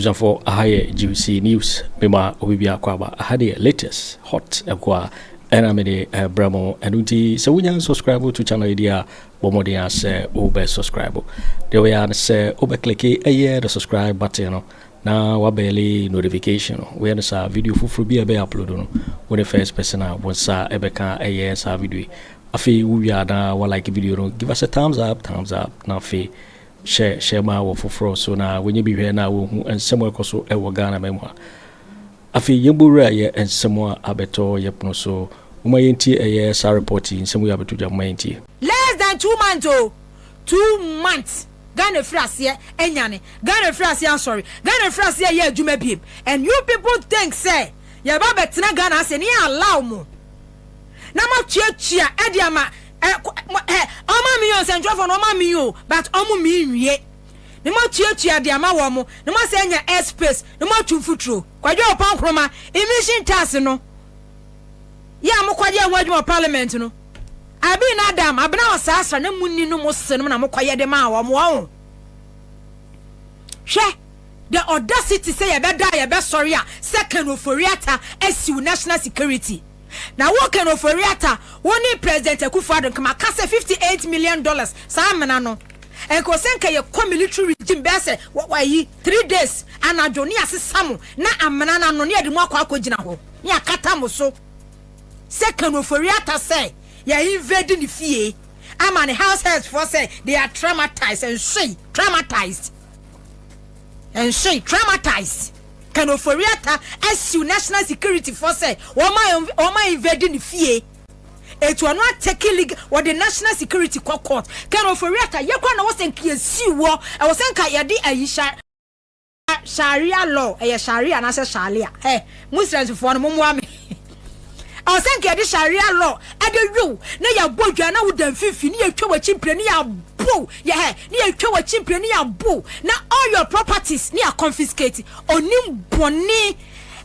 abusuafoɔ aha yɛ gbc news mema obi bi akɔ aba aha deɛ latest hot ɛkɔ a ɛna mede ɛbrɛ mo ɛno nti sɛ wonya subscribe to channel yi deɛ a Bɔ mmɔden ara sɛ wobɛ subscribe. Deɛ wobɛyɛ ara ne sɛ wobɛ kliki ɛyɛ the subscribe button no na wabɛɛle notification no. Woyɛ no saa video foforɔ bi a ɛbɛyɛ upload no, wo ne first person a wo nsa ɛbɛka ɛyɛ saa video yi. Afei wowie a na wa like video no, give us a thumbs up, thumbs up na afei hyɛ hyɛ ma wɔ foforɔ so na wɔnyɛ bi hwɛ na wɔhu nsɛm ɛkɔ so ɛwɔ Ghana ma mu a. Afei yɛbɔwura yɛ nsɛm a abɛtɔ yɛ pono so. Momma yɛntie ɛyɛ saa report yi, nsɛm wei abɛto dwa, momma yɛntie. Less than two months oo, two months Ghana afiri aseɛ anyane, Ghana afiri aseɛ asɔre, Ghana afiri aseɛ ayɛ adwuma biem and you people think sɛ yɛba abɛtena Ghana ase ne yɛ allow mo na mo atuatua ɛde ama eh, mo eh, ɔma me oo, nsɛntwerɛfoɔ no ɔma me oo but ɔmo me nwie. na moatuatua de ama wɔn, na moasan anya air space na moatu mfuturo. Kwadwo Ɔpah Nkrumah, Emission tax no yɛ a mokɔyɛ ho adwuma wɔ parliament no, Abi na Adam Abena wɔ saa sra na monni no mo se nom na mokɔyɛ de maa wɔn wɔn ho. Hwɛ the audacity sɛ yɛbɛda a yɛbɛsɔre a sɛ Ken Ofori-Atta asiw national security. Na wo Ken Ofori-Atta, wo ne President Akufo-Addo, nka maka sɛ 58 million dollars saa amena no. Nkawo sɛ nka yɛ kɔ military regime bɛyɛ sɛ ayi three days anadwo ne yasesa mo na amena no ano ne yɛde mo akɔ akɔ gyina hɔ ne yakata mo so sɛ Kanu Ofori-Atta sɛ yɛ invade ne fie ama ne house helps foɔ sɛ they are traumatized ɛnsoe traumatized ɛnsoe traumatized Kanu Ofori-Atta asiw national security foɔ sɛ wɔma wɔma invade ne fie. etu ɔno atɛki league wɔde national security kɔ court kɛn ofori ata yɛ kora na wɔsɛ nka yɛsi wɔ ɛwɔ sɛ nka yɛde ayi sharia law ɛyɛ sharia anaasɛ sharia ɛ eh, muslims foɔ no mommoa me ɛwɔ sɛ nka yɛde sharia law ɛde wew na yɛabɔ dwa na woda mfimfini ne yɛtwa w'akyi mpire ne yɛabow yɛhɛ ne yɛtwa w'akyi mpire ne yɛabow na all your properties ne yɛ confiscate onim bɔne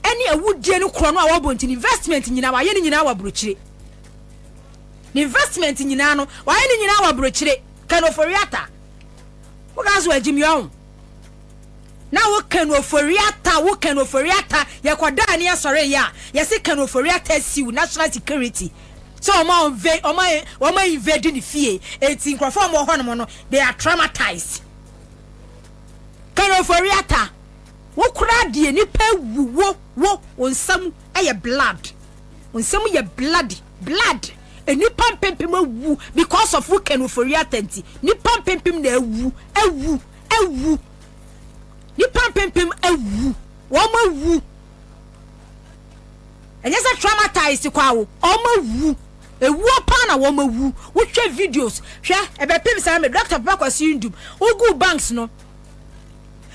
ɛne awudie no korɔ no a wɔbɔ nti ne investment nyinaa wayɛ ne nyinaa wɔ aburokyire ne investment nyinaa no wayɛ ne nyinaa wɔ aburokyire kɛn ofori ata woka so agyim yɛ ɔho na wo kɛn ofori ata wo kɛn ofori ata yɛkɔ daa ne asɔre yɛ a yɛsi kɛn ofori ata siw national security sɛ wɔn a wɔnve wɔn a wɔn a invade ne fie eti nkurɔfoɔ wɔn wɔ hɔnom no they are traumatized kɛnɛfori ata. Wo koraa deɛ nipa awu wo wo wo nsa mu yɛ blood wo nsa mu yɛ bloody blood nipa mpempem awu because of wo Ken Ofori-Atta nti nipa mpempem na awu awu awu nipa mpempem awu wɔn awu ɛnyɛ sɛ traumatized kɔ awo wɔn awu ewuo paa na wɔn awu wohwɛ videos hwɛ ɛbɛpem saa mɛ Dr. Papa Kwasi Ndum wogu banks no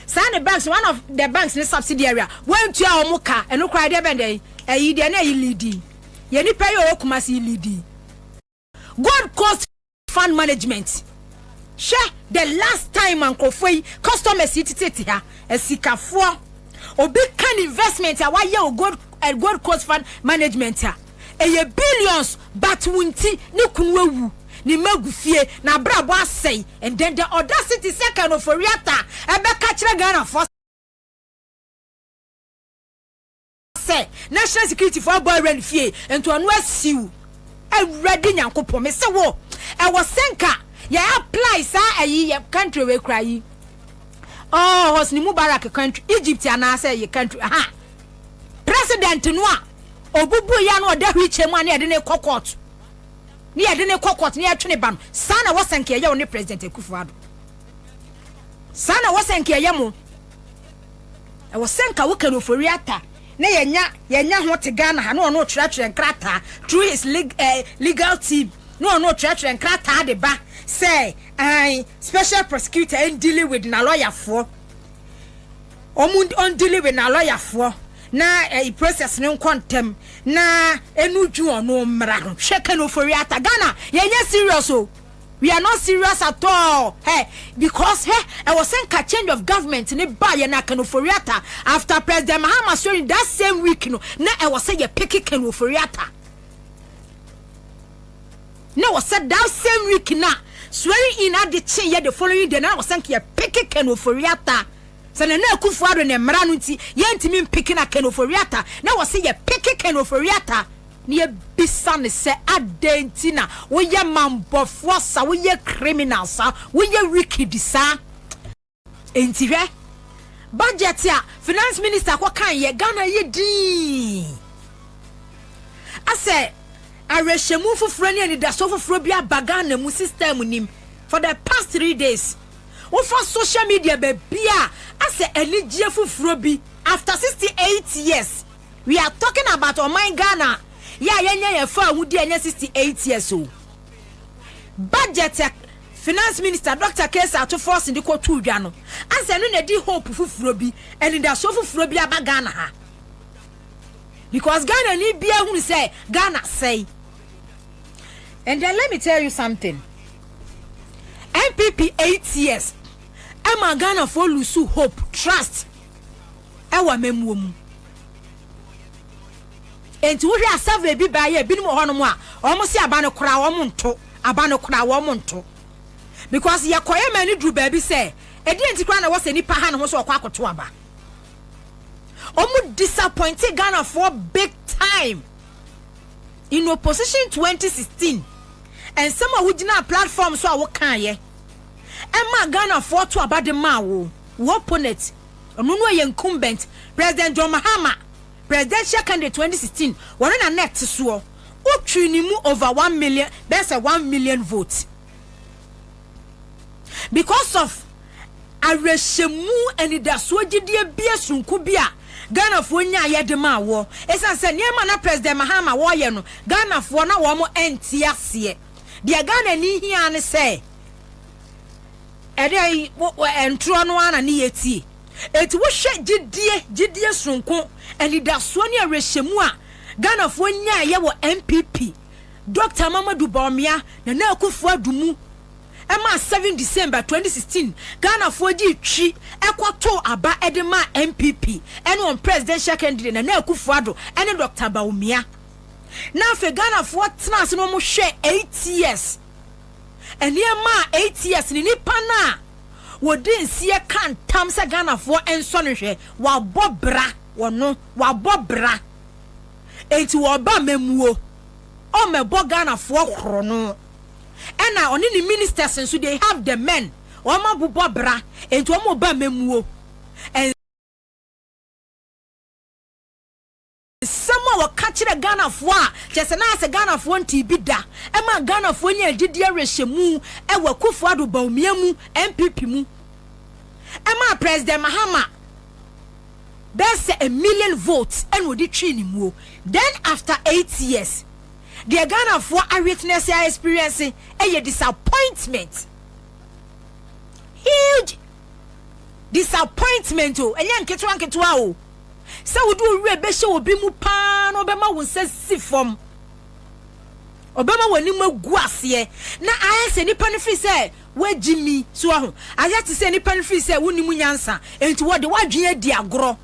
saa ne banks one of the banks ne subsidiary a wɔntua wɔn ka ɛno koraa deɛ bɛn dɛn ɛyi deɛ na ɛyi lidi yɛ nipa yi ɔwɔ kumasi yi lidi gold coast fund management hwɛ the last time nkurɔfoɔ yi customers yi tete ha asikafoɔ obi kan investment a wayɛ o gold eh, gold coast fund management a. ɛyɛ billions but wo nti ne kunu awu, ne mma agu fie, n'abrabɔ asɛe and then the audacity sɛ Ken Ofori-Atta ɛbɛka kyerɛ Ghanafoɔ sɛ national security foɔ abɔ awura ne fie nti ɔno asiw. Awurade Nyankopɔn mese wo ɛwɔ sɛ nka yɛ apply saa ayi yɛ country wei koraa yi oh Hosni Mubarak country Egypt anaasɛ yɛ country ha. president no a ɔbubu yɛ na ɔda wheelchair mu a na yɛde ne kɔ court na yɛde ne kɔ court na yɛtwe ne ba no saa na wɔsɛ nka yɛyɛ wo ne president akufo ado saa na wɔsɛ nka yɛyɛ mo ɛwɔ sɛ nka woka no ofori ata na yɛnya yɛnya ho te ghana ha na ɔno ɔtwerɛtwerɛ nkrataa through his leg, uh, legal team na ɔno ɔtwerɛtwerɛ nkrataa de ba sɛ uh, special prosecutor in dealing with na lɔyafoɔ Ɔmo ɔndili wi n'alɔyafoɔ na ɛyi process no nkɔ ntɛm na ɛnu dwu ɔno mmra ho. Hwɛ Ken Ofori-Atta Ghana yɛ nyɛ serious o we are not serious at all hɛ because hɛ ɛwɔ sɛ nka change of government ne ba yɛ na Ken Ofori-Atta after President Mahama swearing that same week no na ɛwɔ sɛ yɛ peke Ken Ofori-Atta na ɛwɔ sɛ that same week na swearing in ade kye yɛ the following day na ɛwɔ sɛ nka yɛ peke Ken Ofori-Atta. Sɛ Nana Akufo Addo ne mmara no nti yɛntumi mpeke na Ken Ofori-Atta na wɔse yɛpeke Ken Ofori-Atta, na yɛbisa no sɛ adɛn nti na woyɛ mammɔfoɔ sa, woyɛ criminal sa, woyɛ wicked sa? Enti hwɛ budget a finance minister kɔ kaeɛ, Ghana ayɛ dinn, asɛ awerɛhyɛmu foforɔ ne anidasoɔ foforɔ bi aba Ghana mu, system nim for the past three days. wofa social media bebia asɛ anigyeɛ foforɔ bi. After sixty eight years we are talking about ɔman Ghana yɛ a yɛnyɛ yɛn faawodie ɛnyɛ sixty eight years o budget a finance minister Doctor Kayse Ato Forson de kɔ too dwa no asɛ ɛno na ɛde hope foforɔ bi anidasoɔ foforɔ bi aba Ghana ha because Ghana ni biara hunu sɛ Ghana asɛe and then let me tell you something. NPP eight years ɛma Ghanafoɔ lusu hope, trust ɛwɔ amammuo mu. Enti wohwɛ a survey bi baa yɛ binom wɔ hɔnom a wɔn se aba no koraa wɔn nto, aba no koraa wɔn nto. Because yɛkɔyɛ ma ani duru baabi sɛ ɛdeɛ nti koraa na ɛwɔ sɛ nipa ha ne ho sɛ ɔkɔ akɔto aba. Wɔn disappointe Ghanafoɔ big time in opposition 2016. nsɛm a wogyinaa platform so a wokaeɛ ɛmaa Ghanafoɔ to aba de maa wo, wo opponent, ɔno no ɛyɛ incumbent President John Mahama, presidential candidate 2016, ɔno na na ɛte soɔ, wotwii ne mu over one million, bɛyɛ sɛ one million vote. because of awerɛhyɛmu anidasoɔ gyidie bie sononko bi a Ghanafoɔ nyaeɛ de maa woɔ ɛsiane sɛ nneɛma na President Mahama wɔreyɛ no Ghanafoɔ na wɔn ɛnte aseɛ deɛ Ghanani hia ne sɛ ɛdɛ ntorɔ no ara na ne yɛ tie ɛti wohwɛ gyidie gyidie sononko anidasoɔ ne awerɛhyɛmu a Ghanafoɔ nyaeɛ wɔ NPP Dɔkta Amamadu Bawumia, Nana Akufo Addo mu maa seven December twenty sixteen Ghanafoɔ dii twi kɔ too aba de maa NPP ne wɔn Presidential Candidate Nana Akufo Addo ne Dɔkta Bawumia na afei Ghanafoɔ tenaa ase na wɔn hwɛɛ eight years nneɛma a eight years ne nipa no a wɔdi nseɛ ka ntam sɛ Ghanafoɔ nsɔ no hwɛ wabɔ bra wɔno wabɔ bra Enti wɔba amammuo, wɔbɛbɔ Ghanafoɔ korɔno. Ɛna ɔne ne ministers nso they have the men, wɔn abobɔ bra, enti wɔn reba amammuo. Nsɛm a wɔka kyerɛ Ghanafoɔ a kyerɛ sɛ na ayɛ sɛ Ghanafoɔ ntee bi da, ɛmaa Ghanafoɔ nyaa gyidie awerɛhyɛmu wɔ Akuffo-Addo Bawumia mu, NPP mu. Ɛmaa President Mahama. bɛyɛ sɛ a million votes ɛna ɔde twee ne muo then after eight years deɛ Ghanafoɔ a witness a experience ɛyɛ disappointment huge disappointment o ɛnyɛ nketewa nketewa o sɛ wode owurɛ bɛhyɛ obi mu paa na ɔbɛma wo nsa si fam ɔbɛma w'anim agu aseɛ na ayɛ sɛ nipa no fi sɛ Woagye mi. So woahu? Ayɛ te sɛ nnipa no firi sɛ wonnim nyansa nti wɔde w'adwene adi agorɔ.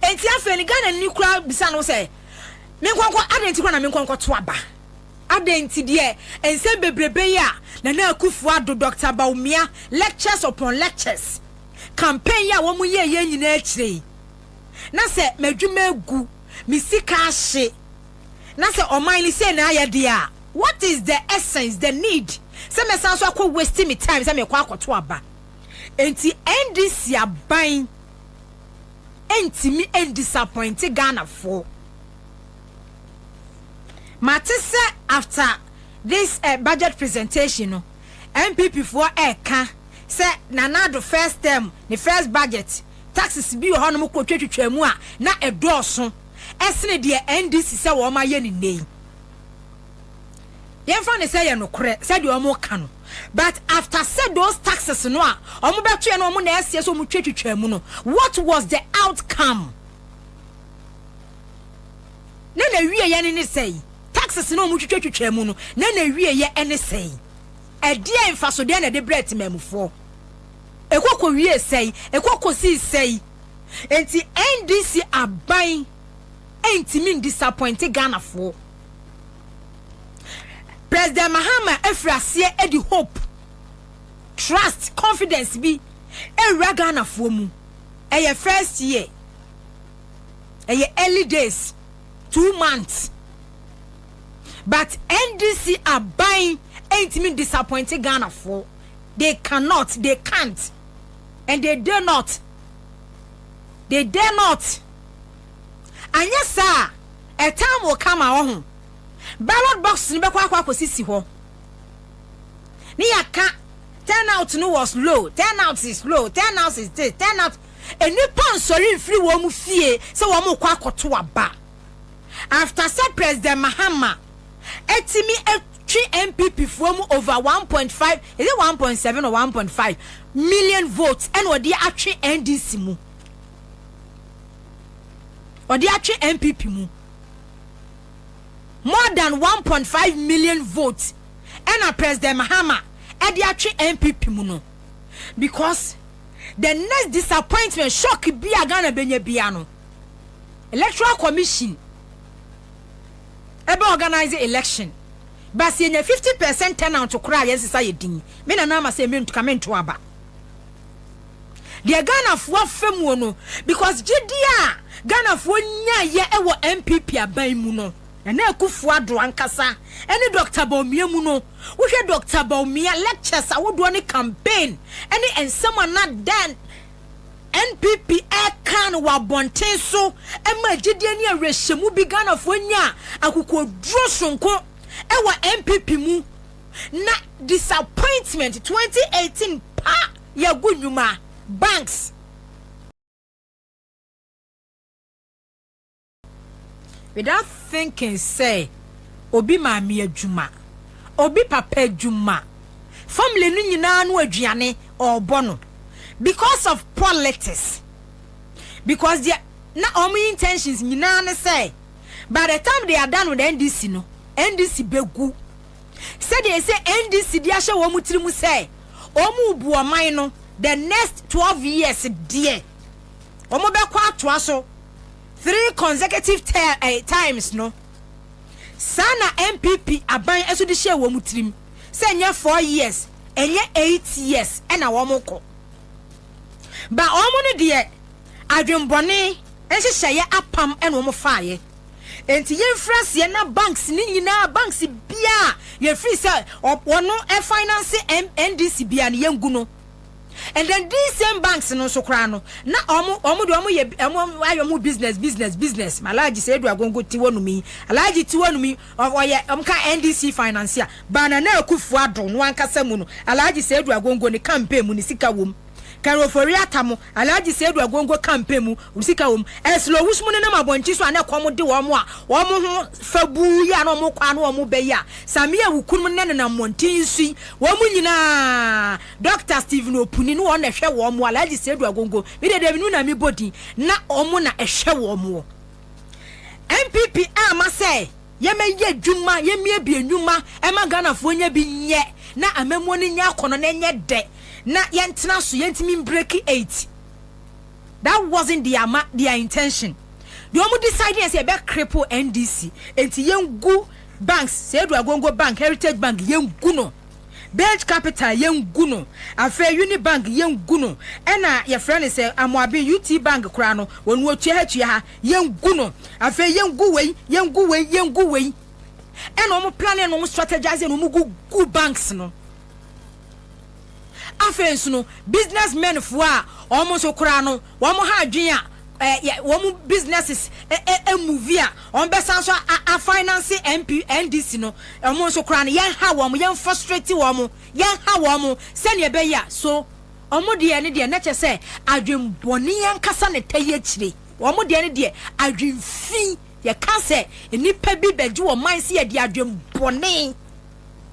Enti afei no Ghanani koraa bisa no sɛ, Menkɔnkɔ, adɛn nti koraa na menkɔnkɔto aba? Adɛn nti deɛ nsɛm bebrebe yi a Nana Akuffo Addo, Doctor Bawumia, lectures upon lectures, campaign yi a wɔyɛeɛ nyinaa akyire yi, na sɛ m'adwuma agu, me sika ahye, na sɛ ɔman no sei na ayɛ deɛ a, what is the essence, the need sɛ mɛsan so akɔ waste me time sɛ mekɔ akɔto aba? Enti NDC aban ntumi ndisapɔinte Ghanafoɔ. Mate sɛ after this budget presentation no, NPP foɔ ɛreka sɛ Nana Addo first term, ne first budget, taxes bi wɔ hɔnom kɔtwatwitwaa mu a na ɛdɔɔso. sene deɛ NDC sɛ wɔn ayɛ no nnɛ yi. Yɛmfa no sɛ yɛ nokorɛ sɛdeɛ wɔn ka no but after sɛ those taxes no a wɔn bɛtoɛ no wɔn na ɛseɛ sɛ wɔn twa twitwa mu no what was the outcome? Na na wie yɛ ne ne sɛi taxes no wɔn twitwa twitwa mu no na na wie yɛ ɛne sɛi ɛdeɛ nfasodeɛ na ɛde brɛ temamufoɔ. Ɛkɔ kɔwiee sɛn? Ɛkɔ kɔsii sɛn? Enti NDC aban ntumi ndisapɔinte Ghanafoɔ. President Mahama afiri aseɛ de hope, trust, confidence bi awura Ghanafoɔ mu. Ɛyɛ first year, ɛyɛ early days, two months, but NDC aban ntumi ndisapɔinte Ghanafoɔ. they cannot, they can't, and they dare not, they dare not. Anyɛ saa a, ɛtan wo ka ma ɔho. Ballot box no bɛkɔ akɔ akɔsisi hɔ. Ne yɛaka turnout no was low, turnout is low, turnout is this, turnout. Nnipa nsɔre mfiri wɔn mu fie sɛ wɔn kɔ akɔto aba. After sɛ President Mahama atumi twe NPP foɔ mu over one point five, is it one point seven or one point five million votes ɛna ɔde atwe NDC mu, ɔde atwe NPP mu more than one point five million votes ɛna President Mahama ɛde atwe NPP mu no because the next disappointment shock bi a Ghana bɛnya bia no Electoral Commission ɛbɛ organise election but sɛ yɛnya 50 percent turnout koraa a yɛn sesa yɛ din me nana ama sɛ mentu ka mento aba deɛ Ghanafoɔ afɛ muo no because gyedie a Ghanafoɔ nyaeɛ ɛwɔ NPP aban mu no Nana Akufo Addo ankasa ɛne Doctor Bawumia mu no wohwɛ Doctor Bawumia lectures ahodoɔ ne campaign ɛne nsɛm a na dan NPP ɛka no wɔ abɔnten so ɛma gyidie ne awerɛhyɛmu bi Ghanafoɔ nya akokoɔduro sononko ɛwɔ NPP mu na disappointment 2018 pa yɛagu nnwuma, banks. Without thinking sɛ obi maame adwuma, obi papa adwuma, family no nyinaa no aduane ɔrebɔ no because of politics. Because deɛ na wɔn intentions nyinaa ne sɛ by the time they are done with NDC no, NDC bɛgu. Sɛdeɛ ɛsɛ NDC de ahyɛ wɔn tiri mu sɛ wɔn rebu ɔman no the next 12 years deɛ wɔbɛkɔ atoa so. three consecutive ter eh, times no, saa na NPP aban nso de hyɛɛ wɔn tirim sɛ nyɛ four years, ɛnyɛ eight years na wɔkɔ. Ba wɔn no deɛ, adwembɔne nhyehyɛeɛ apam na wɔn faeɛ. Enti yɛmfiri aseɛ na banks no nyinaa, banks biara yɛfiri sɛ wɔn ɛfinance NDC biara no yɛngu no. And then these same banks no nso koraa no, na wɔn wɔn de wɔn yɛ wɔn ayɛ wɔn business business business. Ma Alhaji sɛ edu agongo ti hɔ nom yi, Alhaji ti hɔ nom yi, ɔyɛ wɔn ka NDC financier, ba Nana Akufo Addo no ankasa mu no, Alhaji sɛ edu agongo ne campaign mu ne sika wɔ mu. Kari Ofori Atta mo, Alhaji sɛ edu agongo campaign mu ne sika wɔ mu. Ɛsɛ lɔ wusu mu nenam abɔnkye so a na ɛkɔm de wɔn a wɔn ho fɛ buu yi a na wɔn kɔ a na wɔn bɛ yi a, Samia Wukunum ne nenam mmɔnten so yi, wɔn nyinaa. Doctor Stephen Opuni ne wɔn na ɛhwɛ wɔn wɔ Alhaji Seidu Agongo, me dedeɛ me nu na mebɔ din na wɔn na ɛhwɛ wɔn wɔ NPP amma sɛ yɛmɛyɛ adwuma, yɛmmiebie nnwuma ɛma Ghanafoɔ nyɛ bi nyɛ na amammuo no nyɛ akɔnɔ na ɛnyɛ dɛ na yɛntena so, yɛntumi mbreki eit. That wasn't their ama their intention. Deɛ wɔn decide yɛ sɛ yɛbɛ cripple NDC, enti yɛngu banks, Seidu Agongo Bank, Heritage Bank, yɛngu no. Bej Capital yɛngu no, afei Unibank yɛngu no, ɛna yɛfrɛ no sɛ Amoaben UT Bank koraa no wɔn wɔtua ha tua ha, yɛngu no, afei yɛngu wei, yɛngu wei, yɛngu wei. Ɛna wɔn plane no wɔn strategise no wɔn gugu banks no. Afei nso no business men foɔ a wɔn nso koraa no Wɔn ha adwene a wɔn businesses move a wɔbɛsan nso a finance MP NDC no wɔn nso koraa no yɛn ha wɔn yɛn frustrate wɔn yɛn ha wɔn sɛnea ɛbɛyɛ a so wɔn deɛ ne deɛ na kyɛ sɛ adwenbɔne yɛn kasa ne tɛ yɛ kyire wɔn deɛ ne deɛ adwenfi yɛka sɛ nnipa bi bɛgye wɔn man sɛ yɛde adwenbɔne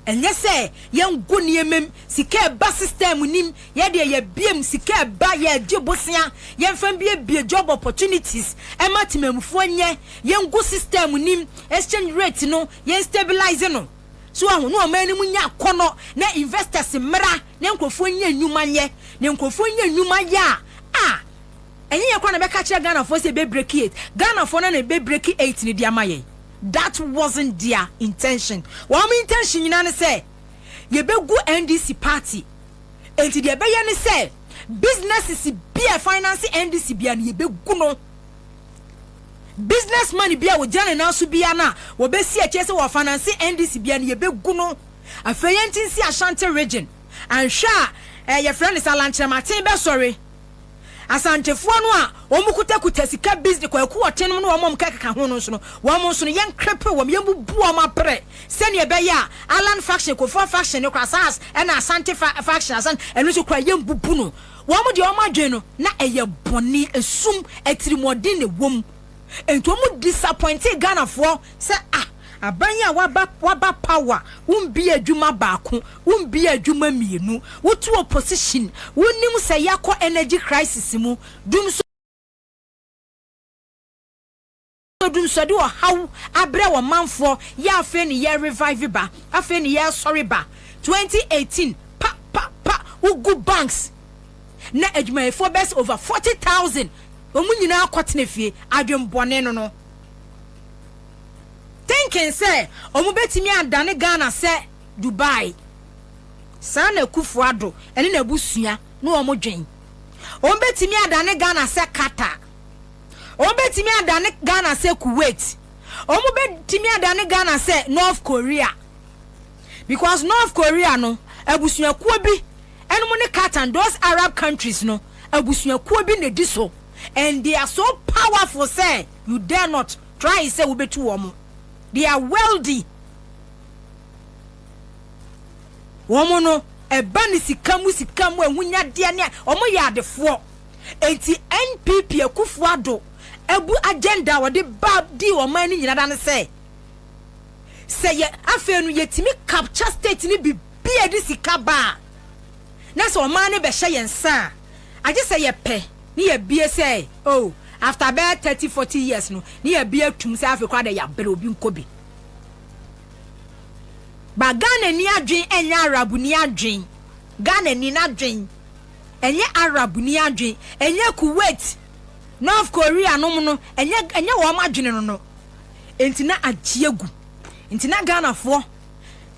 Ɛnyɛ sɛ yɛngo nneɛma mu, sika a ɛba system no mu, yɛ deɛ yɛbie mu, sika a ɛba yɛgye bosea, yɛmfa mbiebie job opportunities ma temanmufoɔ nyɛ, yɛngo system no mu, exchange rate no yɛn stabilize no, so wahu, na ɔman no mu nya akɔnnɔ, na investors mmra, na nkurɔfoɔ nya nnwuma nyɛ, na nkurɔfoɔ nya nnwuma yɛ a, a. Ɛnyɛ yɛn koraa na ɛbɛka akyerɛ Ghanafoɔ sɛ yɛbɛbreki eight. Ghanafoɔ no ara na ɛbɛbreki eight no de ama yɛn. That wasn't their intention. Wɔn intention nyinaa ne sɛ yɛbɛgu NDC party. Enti deɛ ɛbɛyɛ ne sɛ businesses bi a ɛfinance NDC biara no, yɛbɛgu no. Business man biara a ɔgyina ne nan so biara no a wɔbɛsi akyire sɛ wɔfinance NDC biara no, yɛbɛgu no. Afei yɛnte nsi Ashanti region. Anhwɛ a, eh, yɛfrɛ no sɛ alankyerɛmaten bɛsɔre. Asantefoɔ no a wɔn kutakuta sika bizne Kwaku Ɔte nom ne wɔn a wɔn kɛkeka ho no nso no, wɔn nso no yɛnkrepe wɔn, yɛmbubu wɔn abrɛ sɛdeɛ ɛbɛyɛ a Allan faction, Kofoa faction no koraa saa ara na Asante fa faction asan ɛno nso koraa yɛmbubu no. Wɔn deɛ wɔn adwene no na ɛyɛ bɔne, esum, atirimuɔden na ɛwɔ mu. Enti wɔn disappointee Ghanafoɔ sɛ ah aban yi a waba waba power wombie adwuma baako wombie adwuma mmienu wote opposition wonim sɛ yɛakɔ energy crisis mu dum so dum so de ɔhaw abrɛ wɔn manfoɔ yɛ afei ne yɛ revive ba afei ne yɛ sɔre ba 2018 pa pa pa wogu banks na adwumayɛfoɔ bɛyɛ sɛ over forty thousand wɔn nyinaa kɔ tena fie adwen bɔne no no thinking sɛ wɔn bɛtumi adane Ghana sɛ Dubai saa na Akufo Addo ɛne n'abusua ne wɔn dwen wɔn bɛtumi adane Ghana sɛ Qatar wɔn bɛtumi adane Ghana sɛ Kuwait wɔn bɛtumi adane Ghana sɛ North Korea because North Korea no abusuakuo bi Ɛnom ne Katan, those Arab countries no abusuakuo bi na ɛdi so and they are so powerful sɛ you dare not try sɛ wobɛtu wɔn. They are wealthy. Wɔn no ɛba ne sika mu sika mu ahunyadeɛ ne wɔn yɛ adefoɔ. Enti NPP Akufo Addo abu agenda a wɔde ba dii ɔman no nyinaa da ne sɛ sɛ yɛ afei no yɛtumi capture state no bi. bi a ɛde sika ba a, na sɛ ɔman no bɛhyɛ yɛn nsa a, agye sɛ yɛpɛ na yɛabue sɛ, oh, after bɛyɛ thirty, forty years no, na yɛabue atum sɛ afei koraa deɛ yɛabrɛ obi nkɔ bi. Ba Ghanani adwen ɛnyɛ Arabni adwen. Ghanani n'adwen ɛnyɛ Arabni adwen. Ɛnyɛ Kuwait, North Korea nom no, ɛnyɛ ɛnyɛ wɔn adwene no no. Enti na agye agu. Enti na Ghanafoɔ.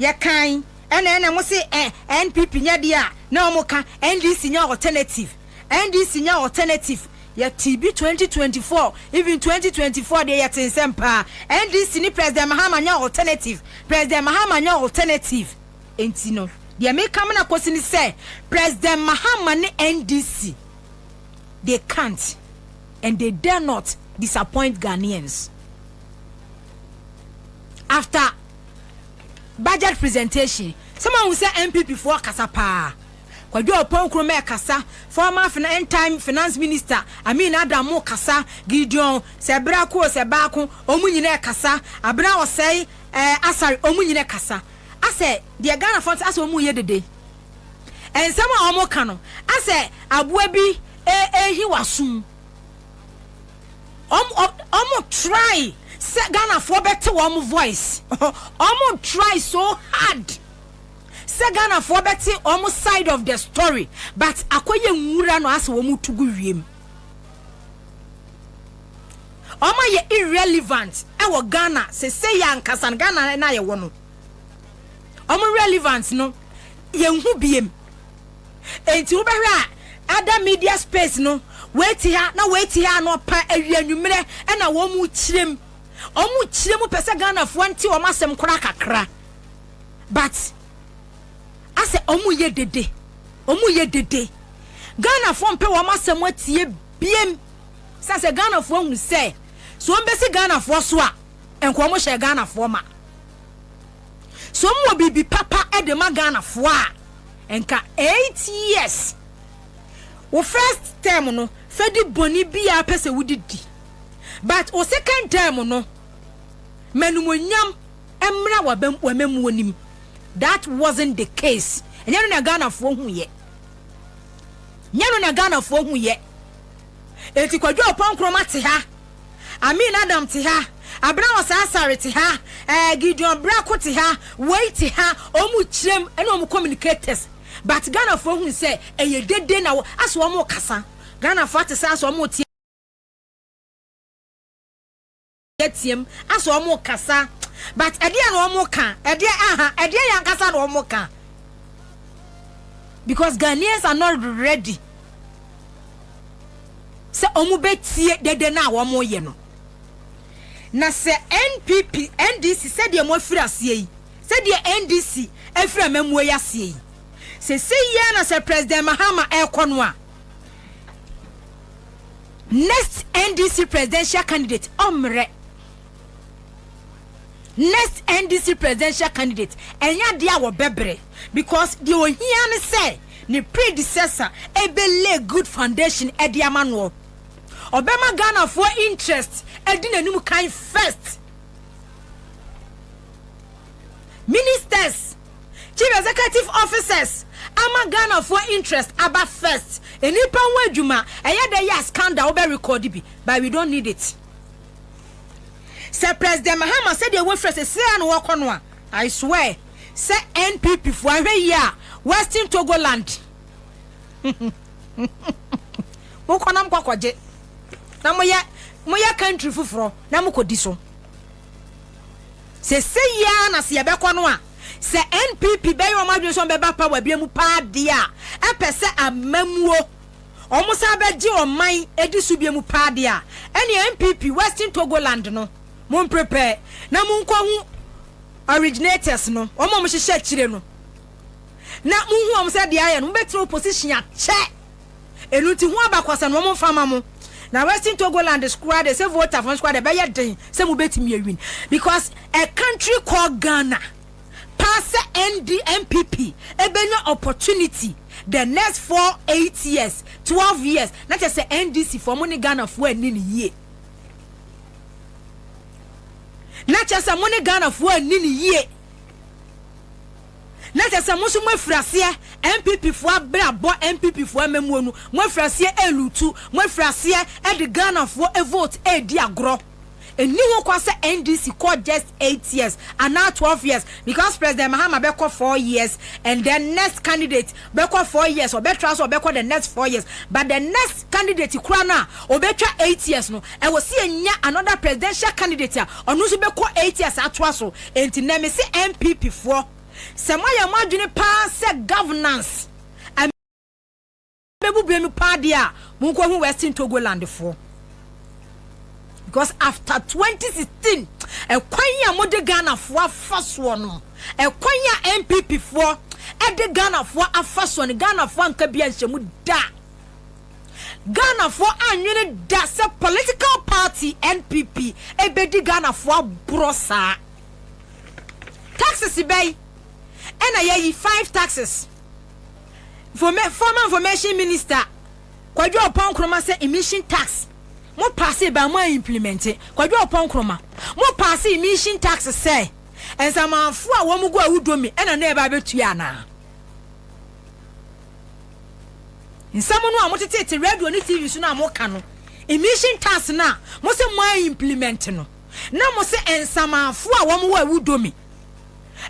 yɛ kan ɛna ɛna mo se ɛ NPP nyɛ deɛ a na ɔmo ka NDC nyɛ alternative NDC nyɛ alternative yɛ tee bi 2024 even 2024 deɛ yɛ tee nsɛm paa NDC ne President Mahama nyɛ alternative President Mahama nyɛ alternative enti no deɛ me ka mena kosi ne sɛ President Mahama ne NDC they can't and they dare not disappoint Ghanaians. after budget presentation sɛ mahu sɛ npp foɔ kasa paa kwadwo ɔpɔn kuro mɛ kasa former fin time finance minister amin adam mo kasa gideon sɛ bra ko sɛ baako ɔmo nyina kasa abena ɔsɛe ɛɛ eh, asare ɔmo nyina kasa asɛ deɛ ghana fɔ asɛ ɔmo yɛ dede nsɛm a ɔmo ka no asɛ aboa bi ɛɛhi eh, eh, wasum ɔmo try sɛ ghanafoɔ bɛte wɔn voice ɔmo try so hard sɛ ghanafoɔ bɛte wɔn side of the story but akɔyɛ nwura no asɛ wɔn to gu wiem wɔn ayɛ irrelevant ɛwɔ ghana sese yɛ ankasa no ghana na yɛwɔ no wɔn relevant no yɛn ho biem. Enti wobɛhwɛ a ada media space no wei te ha na wei te ha anɔpa awia anwummerɛ ɛna wɔn mu kyerɛ mu wɔn mu kyerɛ mu pɛ sɛ Ghanafoɔ nte wɔn asɛm koraa kakra but asɛ wɔn mu yɛ dede wɔn mu yɛ dede Ghanafoɔ mpɛ wɔn asɛm atie biem sɛ sɛ Ghanafoɔ ahunu sɛ so wɔn bɛsi Ghanafoɔ so a nka wɔn hyɛ Ghanafoɔ ma Sɛ ɔmo wɔ biribi papa de ma Ghanafoɔ a, nka eight years. Wo first term no, fa di bɔne biaa pɛ sɛ wode di. But wo second term no, ma animuonyam mmra w'amammuo no mu. That wasn't the case. Ɛnyɛ no na Ghanafoɔ huiɛ. Ɛnyɛ no na Ghanafoɔ huiɛ. Enti Kwadwo Apoah Nkrumah te ha. Amin Adam te ha, Abena Ɔsaa Sare te ha, eh, Gideon Brako te ha, wei te ha, ɔmo kyerɛm ɛne ɔmo communicators but Ghanafoɔ hunu sɛ ɛyɛ dede na wɔ asɛ ɔmo kasa, Ghanafoɔ ate sɛ asɛ ɔmo te ateam asɛ ɔmo kasa but ɛdeɛ na ɔmo ka ɛdeɛ aha ɛdeɛ yɛ ankasa na ɔmo ka because Ghanaians are not ready. sɛ wɔbɛtie dede no a wɔreyɛ no. Na sɛ NPP, NDC, sɛdeɛ moafiri aseɛ yi, sɛdeɛ NDC afiri amammuo yi aseɛ yi, seesei yi ara na sɛ President Mahama rekɔ no a, next NDC presidential candidate, ɔmmrɛ. next NDC presidential candidate ɛnyɛ adeɛ a wɔbɛbrɛ because deɛ ohia ne sɛ ne predecessor ɛbɛ lay good foundation ɛde ama noɔ. Ɔbɛma Ghanafoɔ interest ɛdi n'anim kan first. Ministers, chief executive officers ama Ghanafoɔ interest aba first. Nnipa ho adwuma ɛyɛ dɛ yɛ a scandal wobɛ record bi but we don't need it. Sɛ President Mahama sɛdeɛ wafira sɛ sira na wɔkɔ no a, I swear sɛ NPP foɔ ahwɛ yie a Western Togo land mo kɔ na mo kɔ kɔ gye na mo yɛ mo yɛ country foforɔ na mo kɔ di so. Sɛ sɛ yie a na sɛ yɛbɛkɔ no a sɛ NPP bɛyɛ wɔn adwene sɛ wɔn bɛba power bia mu paa deɛ a ɛpɛ sɛ amamuo. wɔsan bɛgye ɔman adi so bio paa deɛ a, ɛneɛ NPP Western Togoland no, mo mprepare na mo nkɔ hu originators no, wɔn a wɔhyehyɛ akyire no, na mo hu wɔn sɛ deɛ ayɛ no, mo bɛtena opposition akyɛ. Ɛno nti ho abakɔsɛm no wɔn mfa ma mo. Na Western Togoland koraa deɛ sɛ voter fo no koraa deɛ ɛbɛyɛ den sɛ mo bɛtumi awin because a country called Ghana. paa sɛ ND NPP ɛbɛnya opportunity the next four eight years twelve years na kyɛ sɛ NDC foɔ mo ne Ghana foɔ anni ne yie na kyɛ sɛ mo ne Ghana foɔ anni ne yie na kyɛ sɛ mo nso mo afiraseɛ NPP foɔ abere abɔ NPP foɔ amamuo no mo afiraseɛ ɛlutu mo afiraseɛ ɛde Ghana foɔ vote ɛdi agorɔ. Nni ho kwan sɛ NDC kɔ just eight years anaa twelve years because President Mahama bɛkɔ four years and then next candidate bɛkɔ four years, ɔbɛtra so ɔbɛkɔ the next four years but the next candidate koraa no a ɔbɛtwa eight years no ɛwɔ sɛ yɛnya another presidential candidate a ɔno nso bɛkɔ eight years atoa so. Enti nnɛ mese NPP foɔ sɛ moayɛ mo adwene paa sɛ governance, bɛbu bɛ no paa deɛ a, monkɔhu Western Togolandfoɔ. Because after 2016, ɛkwan yi a mode Ghanafoɔ afa soɔ no, ɛkwan yi a NPP foɔ ɛde Ghanafoɔ afa soɔ no, Ghanafoɔ anka bi anhyɛ mu da. Ghanafoɔ anwene da sɛ political party NPP ɛbɛdi Ghanafoɔ aborɔ saa. Taxes bɛyi, ɛna yɛyi five taxes. former information minister Kwadwo Ɔpɔn Nkrumah sɛ emission tax mo paase ba mo a implement Kwadwo Ɔpɔn Nkrumah mo paase emission tax sɛ nsamanfo a wɔn gu awudomi ɛna na ɛba abɛtua anaa nsɛm no a mo tetete radio ne tv so no a mo ka no emission tax no a mo sɛ mo a implement no na mo sɛ nsamanfo a wɔn wɔ awudomi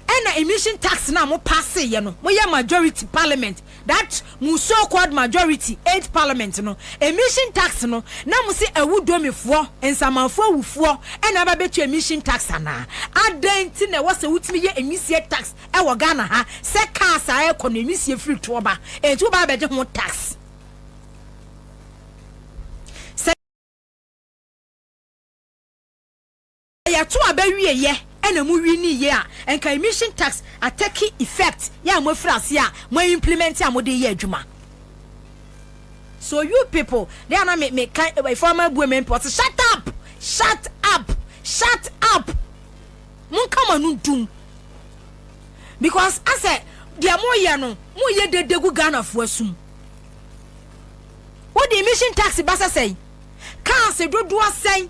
Ɛna emission tax no a mo passe yɛ no mo yɛ majority parliament that mo so called majority eight parliament no emission tax no na mo se awu domi foɔ nsamanfoɔ awu foɔ ɛna aba bɛtua emission tax anaa adɛn nti na ɛwɔ sɛ wotumi yɛ emisie tax ɛwɔ Ghana ha sɛ cars a ɛkɔ no emisie firi toɔ ba ɛnti woba abɛgye ho tax Yɛto aba wie yɛ ɛna mo wi ni yɛ a nka emission tax atake effect yɛ a mo afiri aseɛ a mo a implement a mo de yɛ adwuma so you people de ana me me ka efo ama abue me mpɔ se shut up shut up shut up mo nka mo ano dum because asɛ deɛ mo yɛ no mo yɛ dede gu Ghana fo asum wo de emission tax ba sɛ sɛn cars dodoɔ sɛn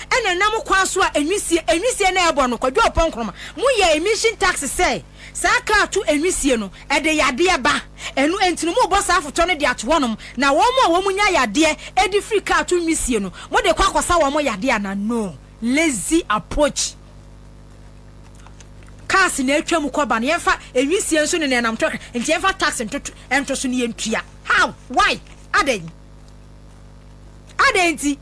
ɛna ɛnam kwan so a enwisie enwisie na ɛbɔ no kwadwo ɔpɔn nkroma mu yɛ emission tax sɛ saa kar to enwisie no ɛde yadeɛ ba ɛno enti no mo bɔ saa afotɔ no de ato hɔ nom na wɔn mo a wɔn mo nya yadeɛ ɛde firi kar to nwisie no mo de kɔ akɔsa wɔn mo yadeɛ ana no lazy approach cars na atwa mu kɔba no yɛmfa enwisie nso ne na ɛnam to nti yɛmfa tax ntoto ɛnto so ne yɛntua how why adɛn Adɛn nti?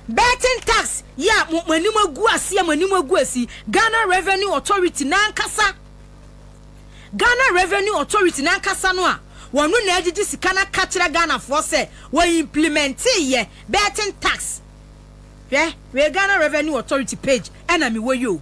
Betting tax yi a mo mo anim agu ase a mo anim agu asi Ghana Revenue Authority n'ankasa Ghana Revenue Authority n'ankasa no a wɔno na agyegye sika no aka kyerɛ Ghanafoɔ sɛ wɔ implementee yɛ betting tax hwɛ wei Ghana Revenue Authority page ɛna mewɔ yi o.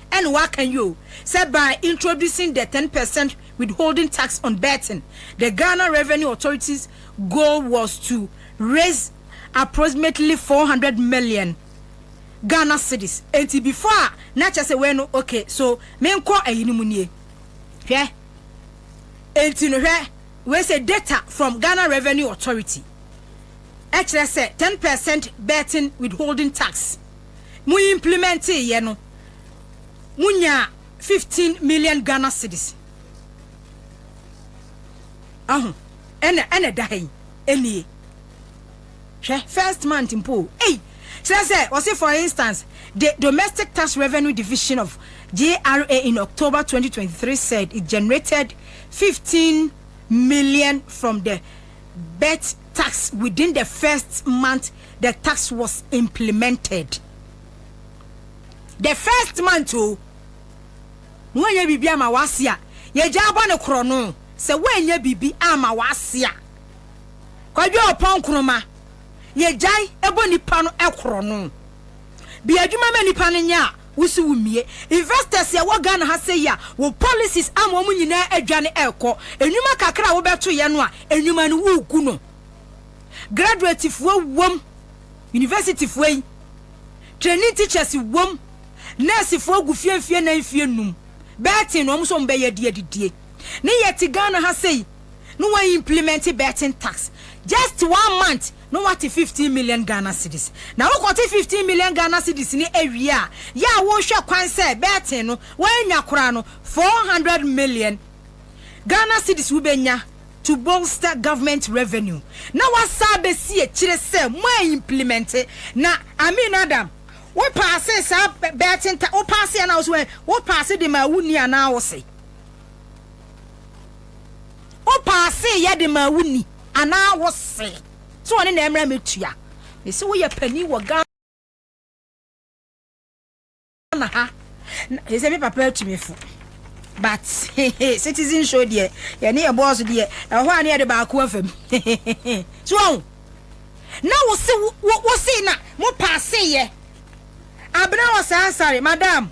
Ɛna waka yi o sɛ by introducing the ten percent withholding tax on betting, the Ghana Revenue Authority's goal was to raise approximately four hundred million Ghana cedis. Enti before a na kyɛ sɛ wei no okay so menkɔ ayi no mu nie. Hwɛ. Enti no hwɛ wei sɛ data from Ghana Revenue Authority ɛkyerɛ sɛ ten percent betting withholding tax. mo implemɛntee yɛ no, mo nyaa fifteen million Ghana cedis. Ahu? Ɛna, ɛna ɛda ha yi. Ɛnie. Hwɛ, first month mpo o. Ei! Kyerɛ sɛ, wɔse for instance, the Domestic Tax Revenue Division of GRA in October 2023 said it generated fifteen million from the bet tax within the first month the tax was implemented. The first month o, woanyɛ biribi ama w'ase a, yɛgyaa bɔ no korɔno. Sɛ woanyɛ biribi amma w'ase a, Kwadwo Ɔpɔn Nkrumah, yɛgyae bɔ nnipa no korɔno. Bue adwuma ma nnipa no nyɛ a, Wo so wo mie. Investors a ɛwɔ Ghana ha sɛyi a wo policies ama wɔn nyinaa adwane ɛrekɔ. Nnwuma kakra a wo bɛtoeɛ no a nnwuma no wogu no. Graduate foɔ wom, university foɔ yi, training teachers wom, nurse foɔ gu fie mfie nan mfie num, bɛɛten na wɔn nso wɔn bɛyɛ adi adidie. Ne yɛte Ghana ha sɛyi ne wɔn implement bɛɛten tax just one month. na wate fifteen million Ghana cedis, na wo kɔte fifteen million Ghana cedis no awie a, yɛ a wo hwɛ kwan sɛ bɛɛten no woannya koraa no, four hundred million Ghana cedis wo bɛnya to bolster government revenue, na w'asa abɛsi akyire sɛ mo a implimɛnte, na Amin Adam wo paase saa bɛɛten ta, wo paase anaa wo se wɛn, wo paase de maa wo ni anaa wo se. Wo paase yɛ de maa wo ni anaa wo se sɛ ɔne na ɛmra me tua me se wo yɛ panin wɔ Ghana na ha na sɛ me papa atu me fo but citizen show deɛ yɛ ne yɛ boss deɛ ɛhɔ a ne yɛ de baako afam so ɔho na wo se wo se na mo paase yɛ abena wɔ saa sare madam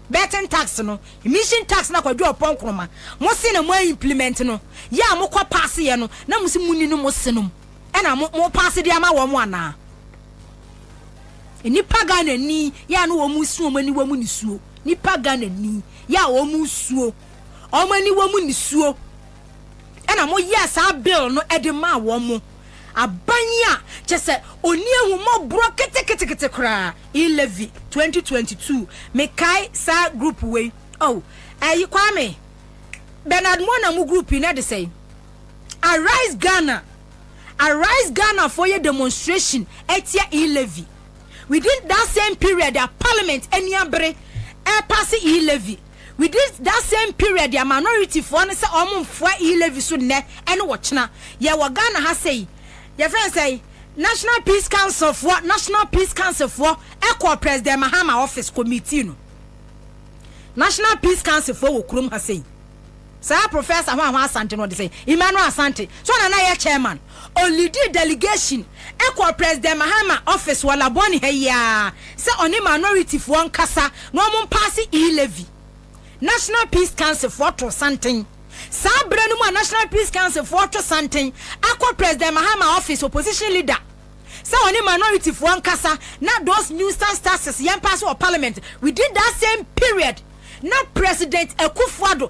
Betting tax no, emission tax na Kwadwo Ɔpɔn Nkrumah mo se na mo a implement no, yɛ a mo kɔ pass yɛ no na mo se mo ni no mo se nom ɛna mo mo pass de ama wɔn anaa? Nipa Ghana ni yɛ a na wɔn se wɔn ani wɔ mo nisuo, nipa Ghana ni yɛ a wɔn suo wɔn ani wɔ mo nisuo ɛna mo yɛɛ saa bill no ɛde maa wɔn. aban a kyɛ sɛ ɔnni ahummɔborɔ ketekete koraa in Levi 2022 mekae saa group wei oh ɛyi Kwame Bernard Mona mo group yi na ɛde sɛe Arise Ghana Arise Ghana foɔ yɛ demonstration ɛtia in Levi within that same period a parliament ani abere ɛpase in Levi Within that same period a minority foɔ no sɛ wɔn mfoa E levy so nnɛ ɛne ɔkyena. Yɛ wɔ Ghana ha sɛi, yɛfrɛ no sɛi, National Peace Council foɔ, National Peace Council foɔ ɛkɔɔ President Mahama office kɔ meetii no. National Peace Council foɔ wɔ kurom ha sɛi. Saa Professor Hwanhwa Asante no ɔde sɛ Emmanuel Asante so na na yɛ chairman. Ɔleadii delegation kɔɔ President Mahama office wɔ Labone ha yi ara sɛ ɔne minorityfoɔ nkasa na wɔn mpaase e-levy. National Peace Councilfoɔ too santen. Saa berɛ no mu a National Peace Councilfoɔ retwe santen akɔ President Mahama office opposition leader sɛ ɔne minorityfoɔ nkasa na those nuisance taxes yɛmpaase wɔ parliament within that same period. na President Akufo-Addo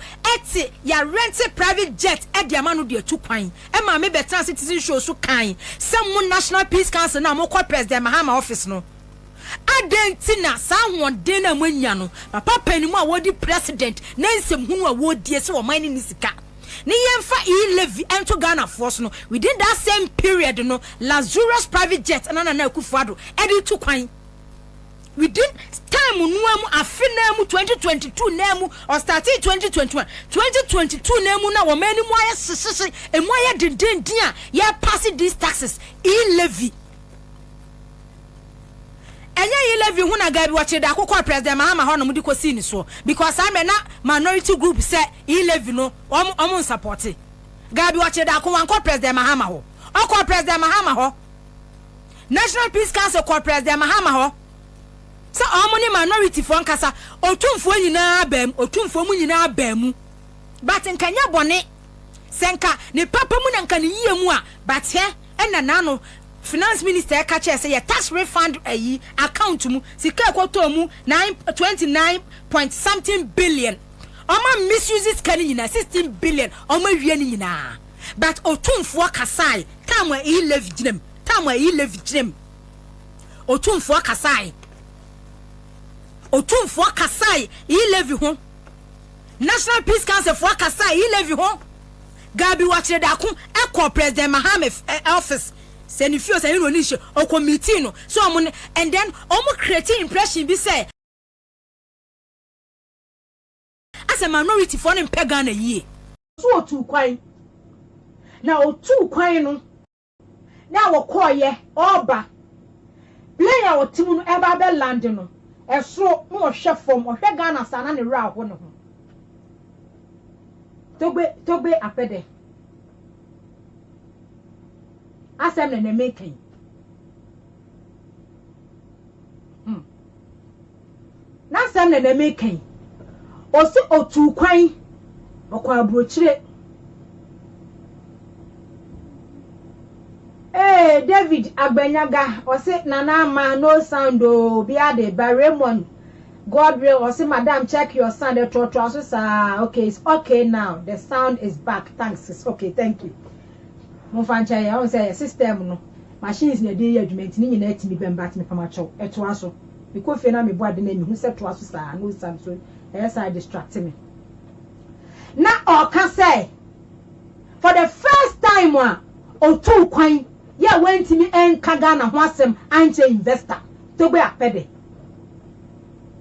te yɛarente private jet de ama no de atu kwan. Ɛmaa me bɛtenaa Citizen Show so kae sɛ mo National Peace Council no a mokɔ President Mahama office no, adɛn nti na saa ahoɔden no a moanya no, papa panin mu a wɔredi President na nsɛm hunu a wɔredie sɛ ɔman no nni sika ne yɛmfa e-levy nto Ghanafoɔ so no, within that same period no, luxurious private jet na Nana Akufo-Addo de retu kwan. within time no ara mu afe no ara mu twenty twenty two no ara mu ɔstartee twenty twenty one twenty twenty two no ara mu na wɔn anim ayɛ hyehyehye emu ayɛ dendenden a yɛrepaase these taxes e levy ɛnyɛ e levy ho na gaabi wɔkyerɛ de akokɔ president mahama hɔ nom de kɔsii ne soɔ because saa mmerɛ na minority group sɛ e levy no wɔn wɔn nsapɔte gaabi wɔkyerɛ de ako wankɔ president mahama hɔ ɔkɔ president mahama hɔ. National Peace Council kɔɔ President Mahama hɔ sɛ wɔn ne minorityfoɔ nkasa. Otumfoɔ nyinaa baa mu, otumfoɔ mu nyinaa baa mu. But nka nyɛ bɔne sɛ nka ne papa mu na nka ne yie mu a, but hɛ ɛna n'ano Finance Minister ɛka kyerɛ sɛ yɛ tax refund ayi account mu sika a ɛkɔtɔɔ mu nine, twenty nine point something billion. Wɔn a misuse sika no nyinaa, sixteen billion, wɔn awie ne nyinaa. But otumfoɔ kasae time a Eyi Levy gyina mu. Tam ayi Levi gyinae mu. Otumfoɔ kasae. Otumfoɔ kasae yi Levi ho. National Peace Council foɔ kasae yi Levi ho. Gabi wɔkyerɛ daako ɛkɔ President Mahame eh, office sɛ ne fio sɛ ne na ɔni nhyɛ ɔkɔ meeting no sɛ ɔmo ne and then ɔmo create impression bi sɛ asɛ minority foɔ no mpɛ Ghana yie. So ɔtuu kwan? Na ɔtuu kwan no. Na wɔkɔeɛ, ɔreba. Plane a ɔte mu no ɛreba abɛ lande no, ɛsoro na ɔhwɛ fam, ɔhwɛ Ghana saa na ne werɛ aho ne ho. Togbe, Togbe Apɛdɛ. Asɛm na ɛnɛ mereka yi. Hmm. N'asɛm na na mereka yi. Ɔse ɔtuu kwan, ɔkɔɔ aburokyire. Ee, David Agbanyaga, ɔse Nana Ama, no sound oo, obiara de ba, Raymond Godwill, ɔse Madam check your sound, ɛtoɔtoa so saa, okay, it's okay now, the sound is back, thanks, it's okay, thank you. Momfa nkyɛ yɛn, ɔhu sɛ yɛ system no, machines na ɛde yɛ adwuma nti ne nyinaa tumi bɛm but mepamakyɛw, ɛtoa so. Mekɔ fie na mebɔ ade na mehu sɛ toa so saa na osiane so ɛyɛ saa distracte me. Na ɔka sɛ for the first time a otuu kwan yɛ a wantumi anka Ghana ho asɛm ankyɛ investor Togbe Apede.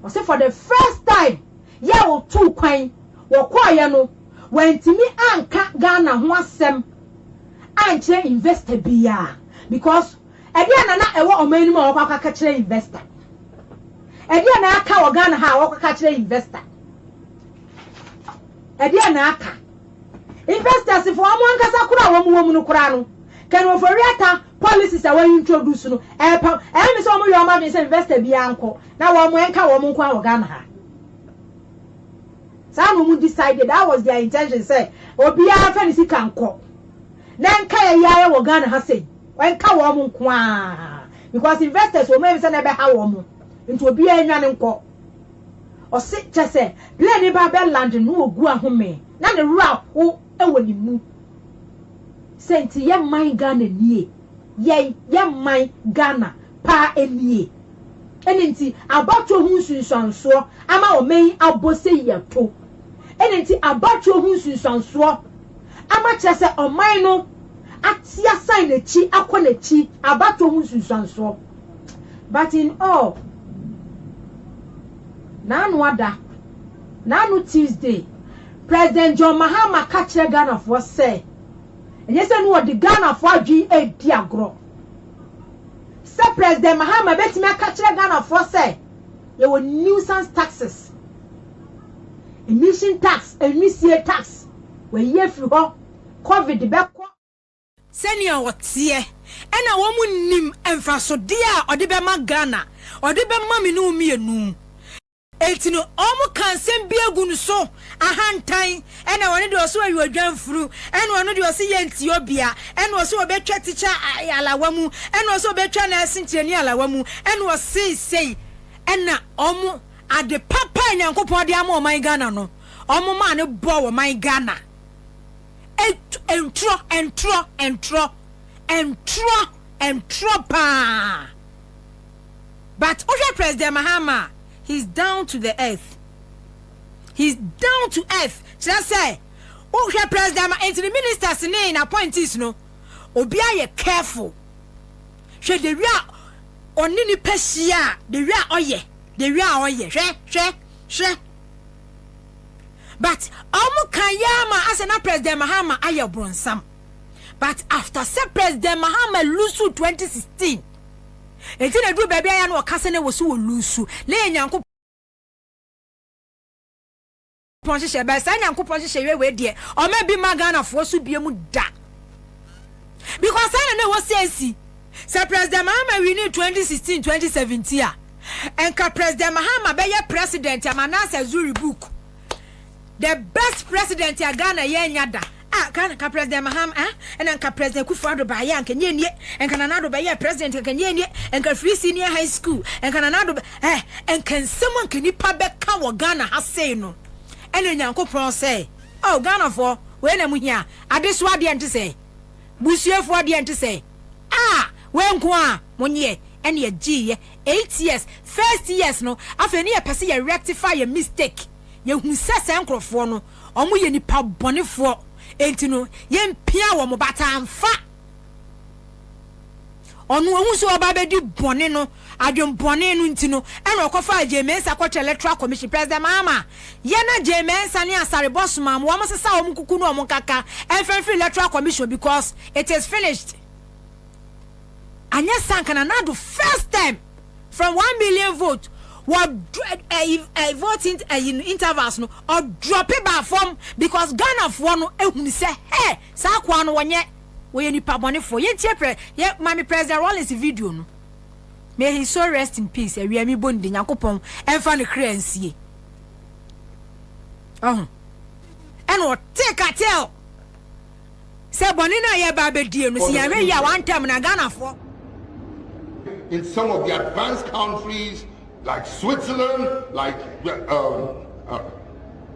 Ɔse for the first time yɛ a otuu kwan wɔkɔɔyɛ no wantumi anka Ghana ho asɛm ankyerɛ investor biaa because Ɛdeɛn na na ɛwɔ ɔman no mu a wɔkɔ akɔ aka kyerɛ investor? Ɛdeɛn na aka wɔ Ghana ha a wɔkɔ aka kyerɛ investor? Ɛdeɛn na aka? Investors foɔ wɔn ankasa koraa a wɔn wɔ mu no koraa no, Ken Ofori-Atta policies a wɔayi introduce no, ɛɛpa, ɛyɛ me sɛ wɔn yɛ wɔn adwene sɛ investor biara nkɔ na wɔn ɛnka wɔn nko ara wɔ Ghana ha. Saa na wɔn decide, that was their intention sɛ obiara mfa ne sika nkɔ na ɛnka yɛ yɛ ara wɔ Ghana ha sɛ yi. Ɛnka wɔn nko ara because investors wɔn anim sɛ na ɛbɛha wɔn nti obiara nwane nkɔ. Ɔse kyɛ sɛ plane no ba bɛ land no ogu ahome na ne werɛ aho wɔ ne mu. Sɛ nti yɛ man Ghana nie yɛn yɛ man Ghana paa nie. Ɛne nti abatoɔ ho nsunsuansoɔ ama ɔman yi abɔ sɛ yi ato. Ɛne nti abatoɔ ho nsunsuansoɔ ama akyerɛ sɛ ɔman no ate asan n'akyi akɔ n'akyi abatoɔ ho nsunsuansoɔ. But in all, n'ano ada, n'ano Tuesday, President John Mahama ka kyerɛ Ghanafoɔ sɛ ɛnyɛ sɛ no ɔde Ghanafoɔ adwene redi agorɔ. Sɛ President Mahama bɛtumi aka kyerɛ Ghanafoɔ sɛ yɛwɔ nuisance taxes, Emission tax, Enwisie tax, Wɔayi afiri hɔ, Covid bɛkɔ. Sɛnea ɔteɛ, ɛna wɔn nnim mfasodeɛ a ɔde bɛma Ghana, ɔde bɛma me ne wo mmienu. Enti no, wɔn ka nsɛm bi agu no so, ahantan, ɛna ɔno deɛ ɔse ɔyɛ odwanfuru, ɛna ɔno deɛ ɔse yɛ nti obia, ɛna ɔse ɔbɛtwa tikya alawa mu, ɛna ɔse ɔbɛtwa nɛɛse nkyerɛni alawa mu, ɛna ɔsei sei, ɛna wɔn. Ade papa a Nyankopɔn de ama ɔman Ghana no, ɔmo maa no bɔɔ ɔman Ghana ntorɔ, ntorɔ, ntorɔ, ntorɔ, ntorɔ paa. But wohwɛ President Mahama a, he's down to the earth, he's down to earth, kyerɛ sɛ wohwɛ President Mahama, nti ne ministers ne n'appointees no, obiara yɛ careful. Hwɛ the wia ɔne nipa hyia a the wia ɔyɛ the wia ɔyɛ hwɛ hwɛ hwɛ but ɔmo ka yɛ ama asɛ na president mahama ayɛ bronsam but after sɛ president mahama lusu 2016 eti na duru baabi ayɛ na ɔka sɛ na wɔ so wɔ lusu na yɛ nyanko Pɔn hyehyɛ bɛɛ saa nyankopɔn hyehyɛ yɛ wei deɛ ɔma bi ma Ghana foɔ so bie mu da because saa na na ɛwɔ sɛ ɛsi sɛ president Mahama wini 2016 2017 a ɛnka president Mahama bɛyɛ president ama Nasser Zuri book the best president a Ghana yɛ nya da Ah Ghana nka President Maham ah ɛna nka President Kufu Ado baayɛ anka nie nie nka Nana Ado bɛyɛɛ President anka nie nie nka firi senior high school nka Nana Ado eh nka nsɛm anka nipa bɛka wɔ Ghana ha sei no ɛna Nyankopɔn sɛ oh Ghanafoɔ wei na mo hia adesoa deɛ nte sɛ busuafoɔ deɛ nte sɛ ah wei nko a mo nyeɛ ɛne yɛgyeeɛ eight years first years no afei ne yɛpɛ sɛ yɛ rectify yɛ mistake yɛhu sɛ saa nkorɔfoɔ no Wɔn yɛ nipa bɔnefoɔ, enti no yɛmpia wɔn bataa mfa. Ɔno ɔhu sɛ ɔba abɛdi bɔne no, adwen bɔne no nti no, ɛna ɔkɔfaa Jay Mensah kɔkyerɛ Electoral Commission, President Mahama, yɛ na Jay Mensah ne Asare-Bɔ somaa mo, wɔn sesa wɔn kuku no wɔn nkaka ɛmfa mfiri Electoral Commission because it is finished. anyɛ saa anka na nado first term from one million vote wɔ ɛyi ɛyi voting ɛyi no intervals no ɔdrɔpe baa fam because ghanafoɔ no ehunu sɛ hɛ saa akoa no wɔnyɛ wɔyɛ nipa bɔnefoɔ yɛn tie pɛ yɛ maame president rollins video no may he so rest in peace awia mi bɔ ne de nyankopɔn ɛnfa ne kra nsie ɔho ɛna ɔte cartel. Sɛ bɔne no a yɛreba abɛdie no, sɛ yɛanhwɛ yie a wantɛm no a, Ghanafoɔ. in some of the advanced countries like Switzerland, like um, uh,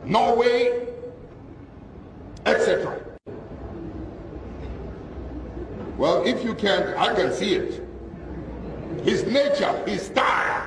Norway, etc. Well, if you can, I can see it. His nature, his style.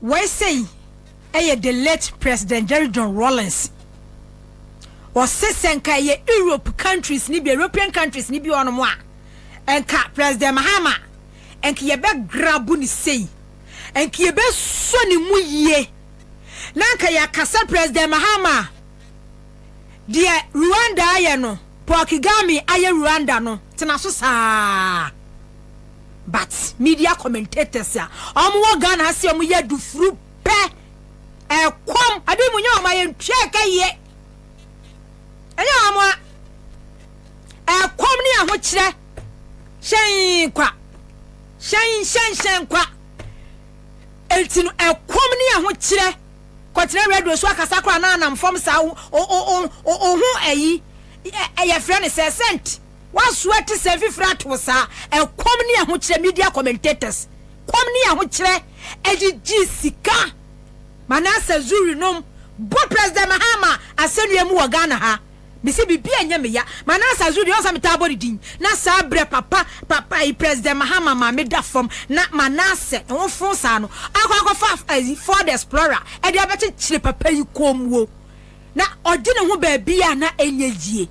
Wei sei yɛ the late President Jerry John Rawlings. Ɔse sɛ nka ɛyɛ Europe countries ni bi, European countries ni bi wɔ nom a, nka President Mahama, nka yɛbɛgrabu ne sei, nka yɛbɛsɔ ne mu yie, na nka yɛaka sɛ President Mahama, deɛ Rwanda ayɛ no, Paul Kagame ayɛ Rwanda no, tena so saa. But media commentators a ɔmo wɔ Ghana ha sɛ ɔmo yɛ adufuru pɛ, ɛkɔm, abi mo nyɛ ɔmo a yɛ ntua ɛka yie. Ɛnyɛ ɔmo a, ɛkɔm ne ahokyerɛ, hyɛn kwa, hyɛn hyɛn hyɛn kwa. Enti no ɛkɔm ne ahokyerɛ kɔtena radio so akasa koraa na anam fam saa o o o o ho ɛyi, ɛyɛ frɛ ne sɛ sɛnti. Woasoa atesɛm fifiri ato wo saa ɛkɔm ne ahokyerɛ media commentators kɔm ne ahokyerɛ ɛgyegye sika Manasseh Zuri nom bɔ President Mahama asɛnnua mu wɔ Ghana ha Mese biribi ɛnyɛ me ya Manasseh Zuri ɔnsɛ metaa bɔ ne din na saa berɛ papa papa ayi President Mahama maame da fam na Manasseh ho fo saa no akɔ akɔfa ayi Ford Explorer ɛde abɛkyekyere papa yi kɔn mu o na ɔgye ne ho baabi a na ɛnyɛ yie.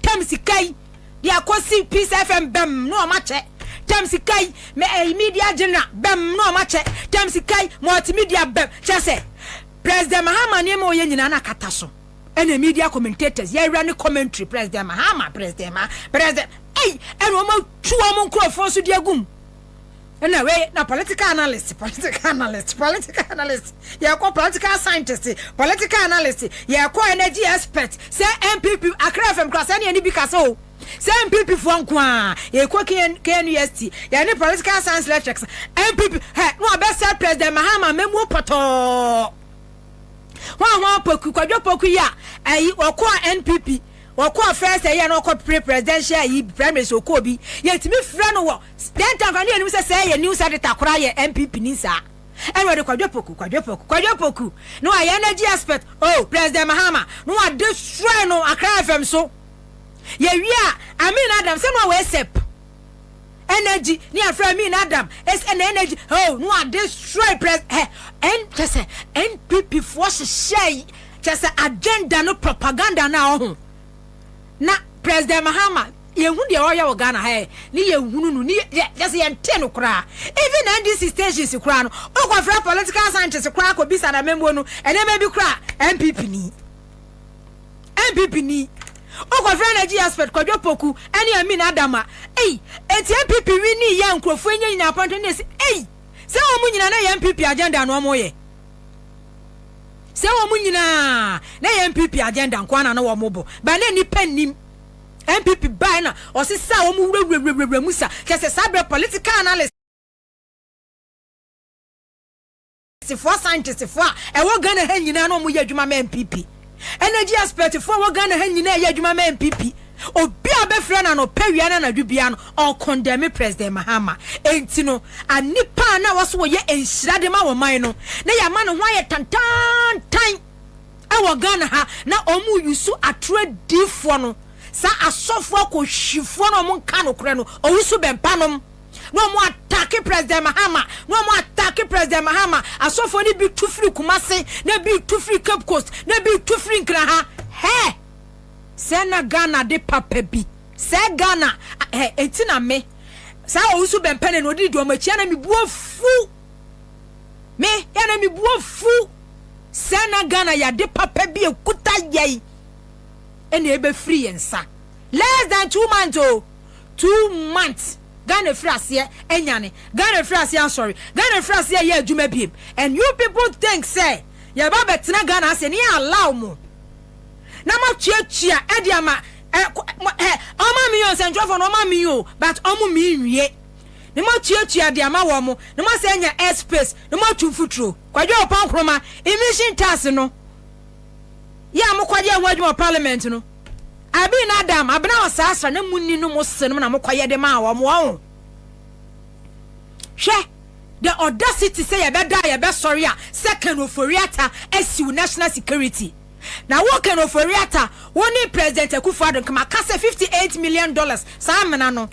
tam sika yi de akɔsi peace fm bɛm na wɔn akyɛ tam sika yi mɛ ɛyi media general bɛm na wɔn akyɛ tam sika yi multimedia bɛm kyɛ sɛ president mahama nneɛma ɔyɛ nyinaa na akata so ɛna media commentators yɛwura ne commentary president mahama president ma president ɛyi ɛna wɔn atu wɔn nkurɔfoɔ so de agum. Ɛna wei na political analyst, political analyst, political analyst, yɛkɔ political scientist, political analyst, yɛkɔ energy expert, sɛ NPP, Accra FM kura sɛ ne yɛne bi kasa o, sɛ NPP foɔ nko a, yɛkɔ KNUST, yɛne political science lectures, NPP, hɛ, na wɔbɛsɛ President Mahama mɛmuo pɔtɔɔ. Hwan hwan poku, kwadwo poku yi a, ɛyi, wɔkɔ a NPP, wɔkɔ a first ɛyɛ na wɔkɔ pre presidential yi, primaries wɔkɔ bi, yɛtumi frɛ no wɔ, Dɛn nti a anka ne yɛnim sɛ sɛɛ yɛ news editor koraa yɛ NPP ni saa? Ɛne ɔde Kwadwo Poku, Kwadwo Poku, Kwadwo Poku no a yɛn energy expert oh President Mahama no wa destroy no Accra FM so. Yɛwie a Amin Adam sɛ no a wɔ ASEP energy ne afrɛ Amin Adam es ɛna energy oh no wa destroy pres hɛ ɛn kyɛ sɛ NPP foɔ hyehyɛ kyɛ sɛ agenda no propaganda no a ɔho Na President Mahama yɛnhu deɛ ɔyɛ wɔ Ghana ha ɛ ne yɛnhunu no ne yɛ kyɛ sɛ yɛntee no koraa even NDC stations koraa no wokɔ frɛ political scientists koraa kɔ bisa no amammuo no nneɛma bi koraa NPP ni NPP ni wokɔ frɛ energy expert Kwadwo Poku ɛne Amin Adama ei eti NPP wi ni yɛ nkurɔfoɔ nyɛ nyina apɔntɔ ne ɛsi ei sɛ wɔn nyina na yɛ NPP agenda no wɔn yɛ Sɛ wɔn nyinaa na ɛyɛ NPP agenda nko ara na na wɔn bɔ, bɛn na nnipa nnim. NPP bae na ɔsesaa wɔn wurawurawurawura mu sa, kyerɛ sɛ saa bere political analyst. Foɔ, scientist foɔ a ɛwɔ Ghana ha nyinaa na wɔn yɛ adwuma ma NPP. Energy aspect foɔ a ɛwɔ Ghana ha nyinaa ɛyɛ adwuma ma NPP. Obi a ɔbɛfrɛ no anɔpa awia ne anadwo biara no ɔ condemn President Mahama. Ɛnti no a nnipa a na ɛwɔ sɛ wɔyɛ nhyira de ma ɔman no na yɛama ne ho ayɛ tantaantan ɛwɔ Ghana ha na wɔn use atoro adiifoɔ no, saa asɔfoɔ akɔhwifoɔ no a wɔnka nokorɛ no, ɔwusu bɛmpa nom. na wɔn atake president mahama na wɔn atake president mahama asɔfoɔ no bi tu firi kumase na bi tu firi cape coast na bi tu firi nkraha hɛ sɛ na ghana de papa bi sɛ ghana hɛ eti na me saa owusu bɛmpɛnɛ na odi di wɔn akyi na me bu afu me yɛ na me bu afu sɛ na ghana yɛade papa bi ekuta yɛi ɛna ebefiri yɛn nsa less than two months o. Oh. two months Ghana firi aseɛ anyane Ghana firi aseɛ asɔre Ghana firi aseɛ ɛyɛ adwuma biem and you people think sɛ yɛba bɛtena Ghana ase ne yɛ allow mo na mo atuatua ɛde ama ɛ ɛ ɔma mi yɛ nsɛntwerɛfoɔ no ɔma mi yɛ o but ɔmo mi nwie ne mo atuatua de ama wɔn mo ne mo asɛ anya airspace ne mo atu mfuturo kwadwo ɔpɔ nkoroma emission tax no yɛ a mo kɔde ɛho adwuma parliament no. Abin ne Adam abena wɔ saa sra na munni no mo se nom na mo kɔyɛ de maa wɔn wɔn hwɛ the audacity sɛ yɛbɛ da a yɛbɛ sɔre a sɛ Ken Ofori-Atta asiw national security na wo Ken Ofori-Atta wo ne President Akufo-Addo nka maka sɛ 58 million dollars saa amena no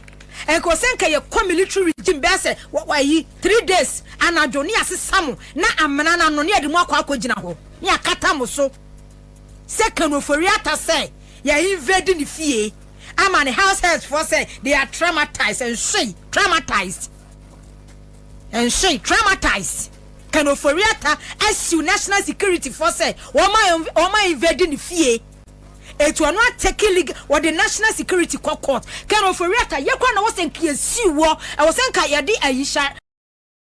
nka wɔ sɛ nka yɛkɔ military regime bɛɛ sɛ wɔ wɔ ayi 3 days anadwo ne yɛasesa mo na amena no ano ne yɛde mo akɔ akɔgyina hɔ ne yɛakata mo so sɛ Ken ofori ata sɛ yɛ invade ne fie ama ne house helps foɔ sɛ they are traumatized and hwei traumatized and hwei traumatized Ken ofori ata asiw national security foɔ sɛ wɔn a invade ne fie etu ɔno atake league wɔde national security kɔ court Ken ofori ata yɛ kora na wɔsɛ nka yɛsiw wɔ ɛwɔ sɛ nka yɛde ayi hyɛ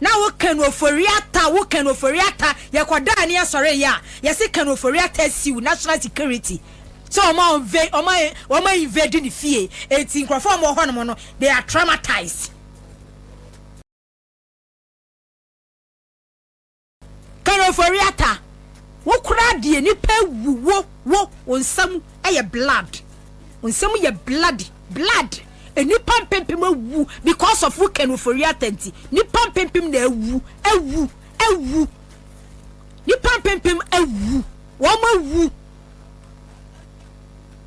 na wo kanu ofori ata wo kanu ofori ata yɛ kɔ daa ne asɔre yɛ a yɛ se kanu ofori ata siw national security sɛ wɔn a wɔnve wɔn a wɔn a invade ne fie eti nkurɔfoɔ a wɔn wɔ hɔ nom no they are traumatized. Kereforiata wo koraa deɛ nipa awu wo wo wo nsam ɛyɛ blood wo nsam yɛ bloody blood nipa mpempem awu because of wo Kereforiata nti nipa mpempem na awu awu awu nipa mpempem awu wɔn awu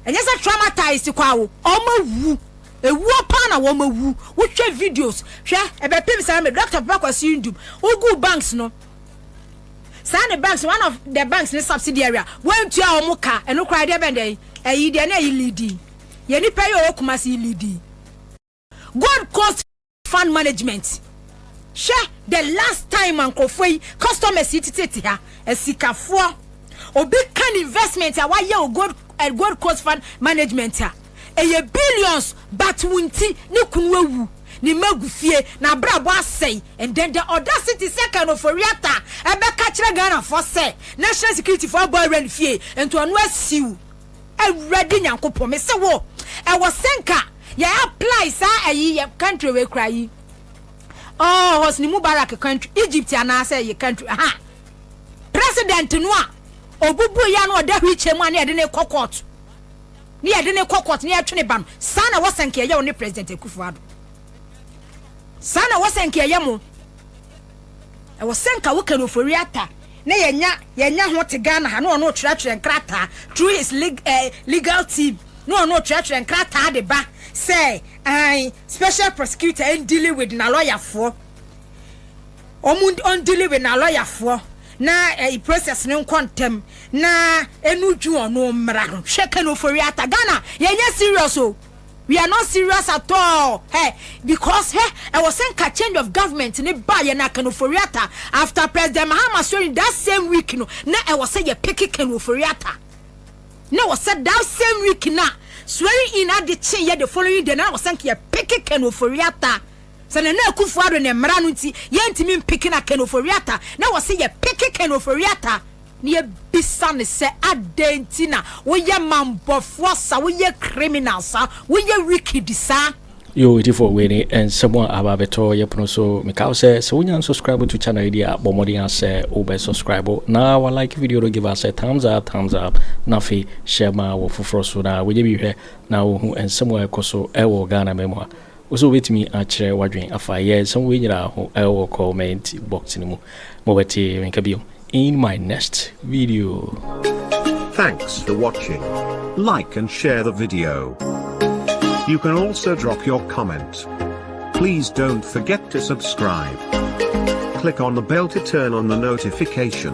ɛnyɛ sɛ traumatized kɔ awo wɔn awu ewuo paa na wɔn awu wohwɛ videos hwɛ ɛbɛpem saa mi doctor papa kwasi ndum ogu banks no saa ne banks one of the banks ne subsidy area wɔntua wɔn ka ɛno koraa deɛ bɛn deɛ ɛyi deɛ na ɛyi leading yɛ nipa yi ɔwɔ kumasi leading. Gold Coast Fund Management, hwɛ the last time a nkurɔfoɔ yi, customers yi tete te ha, asikafoɔ, obi ka ne investment a wayɛ wɔ Gold, eh, Gold Coast Fund Management a, ɛyɛ billions, but wo nti, ne kunu awu, ne mma agu fie, n'abrabɔ asɛe, and then the audacity sɛ Ken Ofori-Atta ɛbɛka kyerɛ Ghanafoɔ sɛ National Securityfoɔ abɔ awura ne fie, nti ɔno asiw. Awurade Nyankopɔn, me se wo, ɛwɔ sɛ nka yɛ apply saa ayi yɛ country wei kura yi. Oh, Hosni Mubarak country, Egypt anaasɛ yɛ country, aha. President no a, obubu ya no ɔda wheelchair mu a ne yɛde ne kɔ court. Ne yɛde ne kɔ court, ne yɛtwe ne ba no. Saa na wɔsɛ nka yɛyɛ wo ne President Akufo-Addo. Saa na wɔsɛ nka yɛyɛ mo. Ɛwɔ sɛ nka woka no Ofori-Atta na yɛnya yɛnya ho te Ghana ha na ɔno ɔtwerɛtwerɛ nkrataa through his leg, eh, legal team na ɔno ɔtwerɛtwerɛ nkrataa de ba sɛ an special prosecutor ɛndili with na lɔyafoɔ ɔmo ɔndili with na lɔyafoɔ na eh, process no nkɔ ntɛm na ɛnu dwu ɔno mmra ho hwɛ ka no Ofori-Atta Ghana yɛnyɛ serious o We are not serious at all hɛ because hɛ ɛwɔ sɛ nka change of government ne ba yɛ na Ken Ofori-Atta after President Mahama sori that same week no na ɛwɔ sɛ yɛ pick Ken Ofori-Atta na ɛwɔ sɛ that same week na swearing in ade kye yɛ the following day na ɛwɔ sɛ nka yɛ pick Ken Ofori-Atta sɛ Nana Akufo-Addo ne mmara no nti yɛntumi mpick na Ken Ofori-Atta na ɛwɔ sɛ yɛ pick Ken Ofori-Atta Ne yɛbisa no sɛ adɛn nti na woyɛ mambɔfoɔ saa, woyɛ criminal saa, woyɛ wicked saa. Yo Itifoɔ wei ne nsɛm a aba abɛtɔ yɛ pono so. Meka wo sɛ, sɛ wonya nsubscribe to channel yi deɛ a, bɔ mmɔden ara sɛ wobɛ subscribe na wa like video no give us a thumbs up thumbs up na afei hyɛ ma wɔ foforɔ so na wɔnyɛ bi hwɛ na wɔhu nsɛm a ɛkɔ so ɛwɔ Ghana ma mu a. Wo so wobɛtumi akyerɛ w'adwene afa yɛ nsɛm wei nyinaa ho wɔ comment box no mu ma wɔate me nka biom in my next video. Thanks for watching. Like and share the video. You can also drop your comment. Please don't forget to subscribe. Click on the bell to turn on the notification.